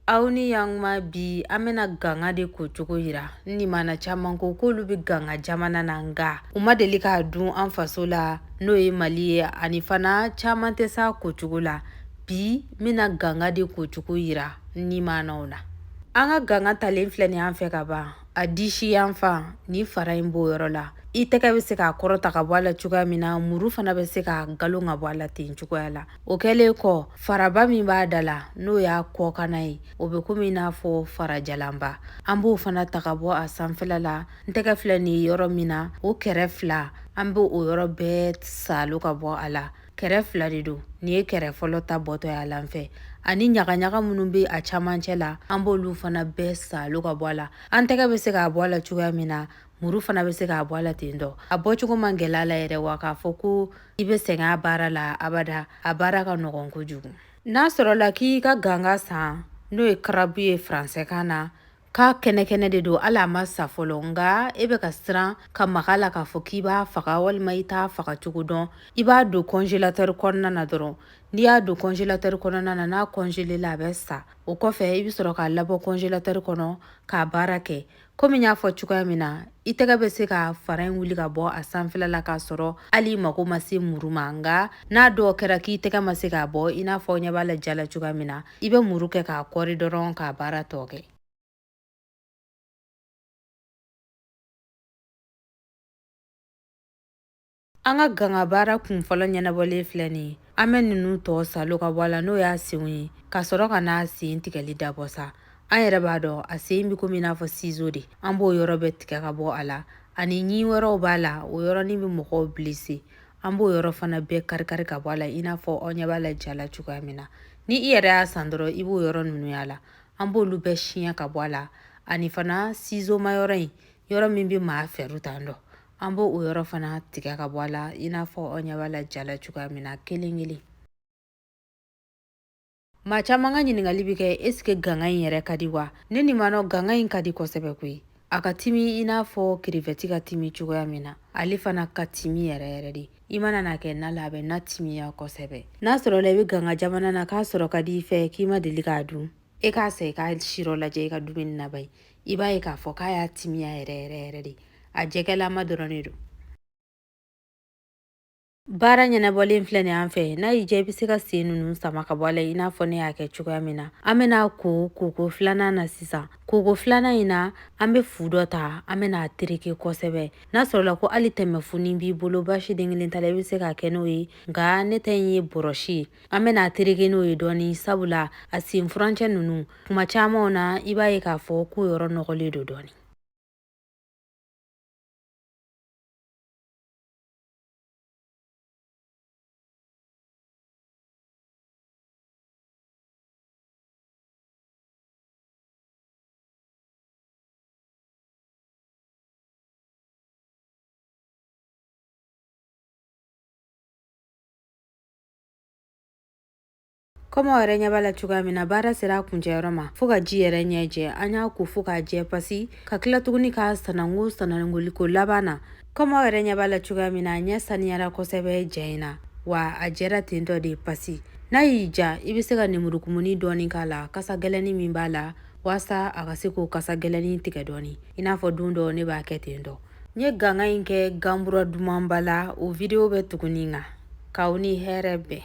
aw ni yankuma bi an bɛna ganga de kocogo yira n nimana caaman ko k'olu bɛ ganga jamana na nga u ma deli k'a dun an faso la n'o ye mali ye ani fana caaman tɛ s'a kocogo la bi n bɛna ganga de kocogo yira n nimanaw na an ka ganga talen filɛ nin an fɛ ka ban a disi yan fan ni fara in b'o yɔrɔ la i tɛgɛ bɛ se k'a kɔrɔta ka bɔ a la cogoya min na muru fana bɛ se k'a galon ka bɔ a la ten cogoya la o kɛlen kɔ faraba min b'a da la n'o y'a kɔkanna ye o bɛ komi n'a fɔ farajalanba an b'o fana ta ka bɔ a sanfɛla la n tɛgɛ filɛ nin yɔrɔ min na o kɛrɛ fila an bɛ o yɔrɔ bɛɛ salo ka bɔ a la kɛrɛ fila de don nin ye kɛrɛ fɔlɔ ta bɔtɔ y'a la n fɛ ani ɲagaɲaga minnu bɛ a camancɛ la an b'olu fana bɛɛ salo ka bɔ a la an tɛgɛ bɛ se k'a bɔ a la cogoya min na muru fana bɛ se k'a bɔ a la ten dɔ a bɔcogo man gɛlɛn a la yɛrɛ wa k'a fɔ ko i bɛ sɛgɛn a baara la abada a baara ka nɔgɔn kojugu n'a sɔrɔla k'i ka ganga san n'o ye karabu ye faransɛkan na k'a kɛnɛkɛnɛ de don hali a ma sa fɔlɔ nka e bɛ ka siran ka mag'a la k'a fɔ k'i b'a faga walima i t'a faga cogo dɔn i b'a don kɔnzelatɛri kɔnɔna na dɔrɔn n'i y'a don kɔnzelatɛri kɔnɔna na n'a kɔnzelela a bɛ sa o kɔfɛ i bɛ sɔrɔ k'a labɔ kɔnzelatɛri kɔnɔ k'a baara kɛ komi n y'a fɔ cogoya min na i tɛgɛ bɛ se ka fara in wuli ka bɔ a sanfɛla la k'a sɔrɔ hali i mako ma se muru ma nka n'a dun kɛra k'i tɛgɛ ma se k'a bɔ i n'a fɔ aw ɲɛ b'a la ja la cogoya min na i bɛ muru kɛ k'a kɔri dɔrɔn k'a baara tɔ kɛ An ka gangabaara kunfɔlɔ ɲɛnabɔlen filɛ nin ye an bɛ ninnu tɔ salo ka bɔ a la n'o y'a senw ye ka sɔrɔ ka n'a sen tigɛli dabɔ sa an yɛrɛ b'a dɔn a sen bɛ komi i n'a fɔ sizo de an b'o yɔrɔ bɛɛ tigɛ ka bɔ a la ani ɲin wɛrɛw b'a la o yɔrɔnin bɛ mɔgɔw bilise an b'o yɔrɔ fana bɛɛ karikari ka bɔ a la i n'a fɔ aw ɲɛ b'a la ja la cogoya min na ni i yɛrɛ y'a san dɔrɔn i b'o yɔrɔ ninnu y'a la an b'olu bɛɛ siɲɛ ka bɔ a la ani fana sizomayɔrɔ in yɔrɔ min bɛ maa fɛru tan dɔn an b'o yɔrɔ fana tigɛ ka bɔ a la i n'a fɔ aw ɲɛ b'a la ja la cogoya min na kelen kelen maa caman ka ɲininkali bɛ kɛ ɛsike ganga in yɛrɛ ka di wa ne nimanaw ganga in ka di kosɛbɛ koyi a ka timi i n'a fɔ kirivɛti ka timi cogoya min na ale fana ka timi yɛrɛ yɛrɛ de i mana na kɛ na la a bɛ na timiya kosɛbɛ n'a sɔrɔla i bɛ ganga jamana na k'a sɔrɔ ka di i fɛ k'i ma deli k'a dun e k'a san i k'a sirɔ lajɛ i ka dumuni na bari i b'a ye k'a fɔ k'a y'a timiya yɛrɛ yɛrɛ yɛrɛ de a jɛgɛlama dɔrɔn de don baara ɲɛnabɔlen filɛ nin an fɛ n'a y'i diya i bɛ se ka sen ninnu sama ka bɔ a la i n'a fɔ ne y'a kɛ cogoya min na an bɛn'a ko koko filanan na sisan koko filanan in na an bɛ fu dɔ ta an bɛna a tereke kosɛbɛ n'a sɔrɔla ko hali tɛmɛfunin b'i bolo baasi den kelen t'a la i bɛ se k'a kɛ n'o ye nka ne ta in ye bɔrɔsi ye an bɛna tereke n'o ye dɔɔni sabula a sen furancɛ ninnu kuma camanw na i b'a ye k'a fɔ ko yɔrɔ nɔgɔlen don dɔɔni Komi aw yɛrɛ ɲɛ b'a la cogoya min na baara sera a kuncɛyɔrɔ ma fo ka ji yɛrɛ ɲɛ jɛ an y'a ko fo k'a jɛ pasi ka tila tuguni k'a sanango sanangoliko laban na komi aw yɛrɛ ɲɛ b'a la cogoya min na a ɲɛ saniyara kosɛbɛ jɛ in na wa a jɛra ten tɔ de pasi n'a y'i ja i bɛ se ka nemurukumuni dɔɔni k'a la kasa gɛlɛnnin min b'a la waasa a ka se k'o kasa gɛlɛnnin tigɛ dɔɔni i n'a fɔ don dɔ ne b'a kɛ ten tɔ n ye ganga in kɛ ganbura dumanba la o video bɛ tugu nin kan k'aw ni hɛrɛ bɛn